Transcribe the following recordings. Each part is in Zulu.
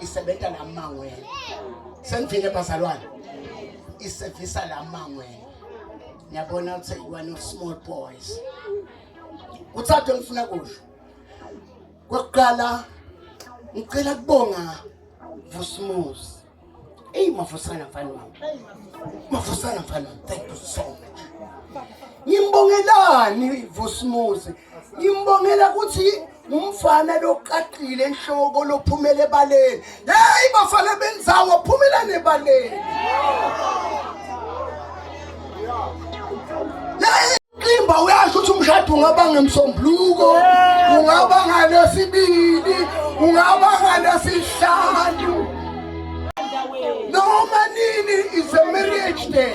isebenza la mangweni sengivile bazalwane isevisa la mangweni niyabona ukuthi one of small boys uthathe ngifuna kusho kokuqala ngicela kubonga vusimuzi eyi mafusana mfana wami mafusana mfana wami thank you so much ngimbongelani vusimuzi ngimbongela ukuthi umfana loqaqile enhloko lophumele ebaleni hey bafana benzawo phumela nebaleni Imba uyasho ukuthi umshado ungaba ngemsombuluko ungaba ngalesibili ungaba ngalesihlanu noma nini is a marriage day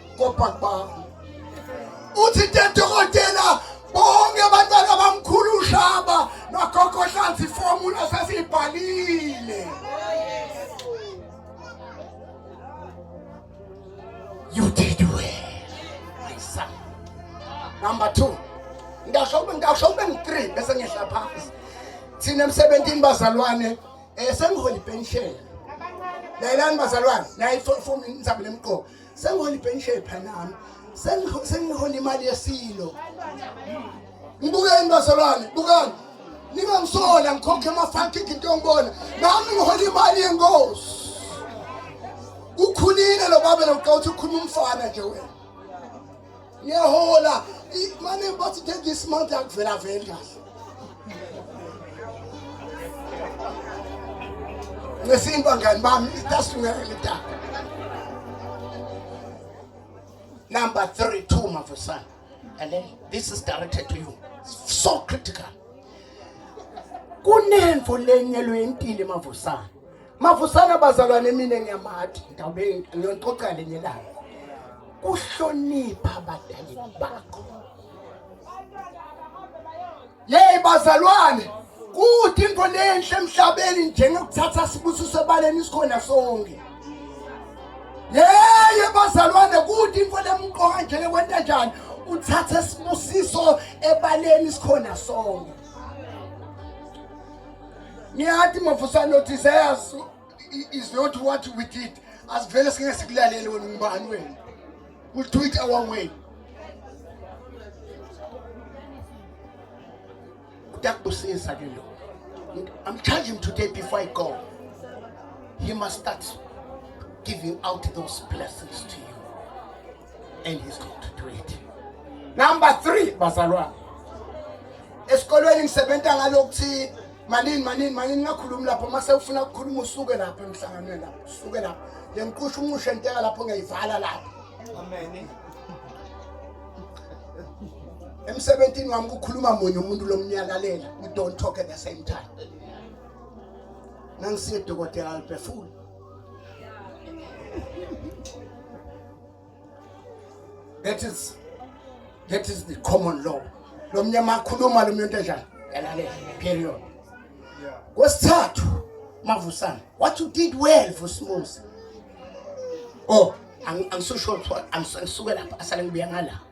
kobhakubhakho uthi tedokotela bonke abantwana bamkhulu ushaba nogogo hlanzi formula sesiyibhalile you did well my son number 2 ngisho ube ngisho ube ngi3 bese ngehla phansi thina emsebenzini bazalwane eh sengihola ipension layelani bazalwane nayi form inzaba lemqoka sengihola ipension phanami sengihola imali yesilo ngibukeni bazalwane bukani ningangisola ngikhokhe amafakiki into yongibona nami ngihola imali yenkosi ukhulile lo baba lo uqawuthi ukhuluma umfana nje wena ngiyahola mane bathi take this month yakuvela vele kahle ngesintu bangani bami itasungele litaka number 3 two mafusana and then this is directed to you it's so critical kunemfo lenyelwe impilo emavusana Mafusana bazalwane mina ngiyamathi ngawube ngiyonixoxa lenye langa. Kuhlonipha abadali bakho. Yey bazalwane kuthi into lenhle emhlabeni njengokuthatha sibusiso ebaleni sikhona sonke. Yey bazalwane kuthi into lemqoka njengokwenta njani uthatha sibusiso ebaleni sikhona sonke. ngiyathi mafusane othi sayazi is not what we did asivele singeke sikulalele wena ungubani wena will do it our way utakubusisa ke lo i'm charging him today before i go he must start giving out those blessings to you and he's going to do it number 3 bazalwane esikolweni ngisebenza ngalokuthi manini manini manini ngakhulumi lapho mase ufuna ukukhuluma usuke lapho emhlanganweni lapho usuke lapho lengiqusha unqushe nteka lapho ngiyivala lapho amen emsebenzini wami kukhuluma munye umuntu lomnyalalela we don't talk at the same time nangisiye dokotela aliphefuli That is that is the common law. Lo mnyama akhuluma lo muntu enjani? Yalalela. Period. Yeah. Kwesithathu mavusana. What you did well Vusimuzi. Oh, angisosho I'm ngisuke lapha asale ngibuya ngala.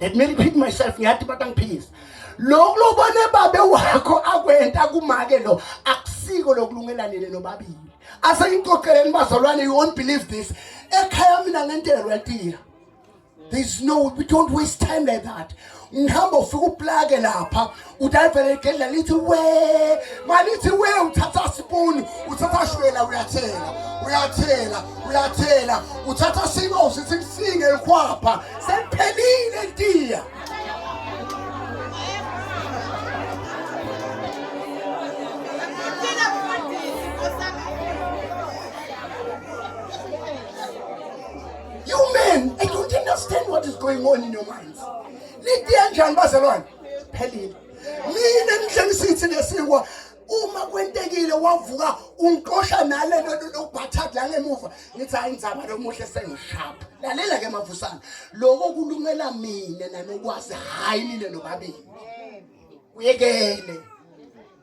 let me repeat myself ngiyathi bathi angiphikise lokhu lobone babe wakho akwenta kumake lo akusiko lokulungelanele nobabili ase ngixoxeleni bazalwane you won't believe this ekhaya mina ngentelwa tiya there's no we don't waste time like that ngihamba ufika uplake lapha udayivele igedla lithi we malithi we uthatha sipuni uthatha shwela uyathela uyathela uyathela uthatha sinosi simsinge ikhwapha sephelile ntiya You men, I don't understand what is going on in your mind. nitiye njani bazalwane phelile mina ngihlengisithi lesikwa uma kwentekile wavuka ungixosha nale nto lokubhathadi la ngemuva ngithi hayi nzaba lomuhle sengishapha lalela ke mavusana loko kulungela mina nanokwazi hhayi nile nobabili kuyekele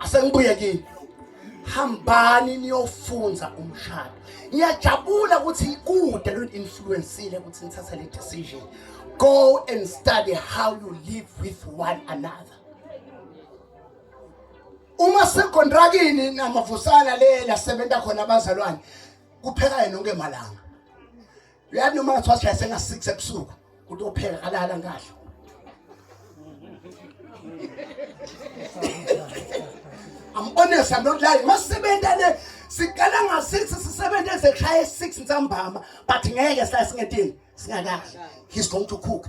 asengibuye kini hambani niyofunza umshado ngiyajabula ukuthi kude lento influensile ukuthi nithatha le decision go and study how you live with one another uma sekontrakini namavusana le lasebenza khona abazalwane kupheka yena onke malanga uyathi noma ngathiwa sishaya senga-six ebusuku kuthi opheka kalala ngadla I'm honest, I'm not lying. Masisebenza le siqala nga-6 sisebenza ezekhaya e-6 nsambama but ngeke sila singedini singakadli. He's going to cook.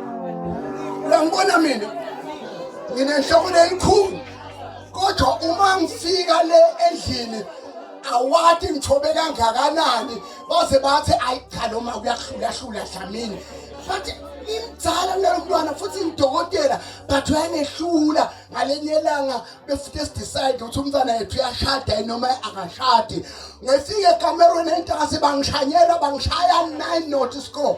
uyangibona mina nginenhloko leyikhulu kodwa uma ngifika le endlini awati ngithobe kangakanani baze bathi ayi cha noma kuyahlulahlula dlamini futhi imdzala kulelo mntwana futhi ngidokotela but uyangehlula ngalenye elanga befute sidecide ukuthi umntwana yethu uyashada noma akashadi ngifike ekamerweni entasi bangishanyela bangishaya nine not score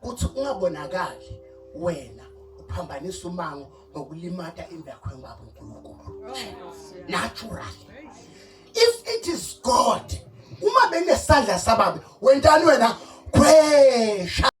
kuthi ungabonakali wena uphambanisa umango ngokulimata indakho yobaba uNkulunkulu natural if it is god uma benesandla sababe wentani wena khwesha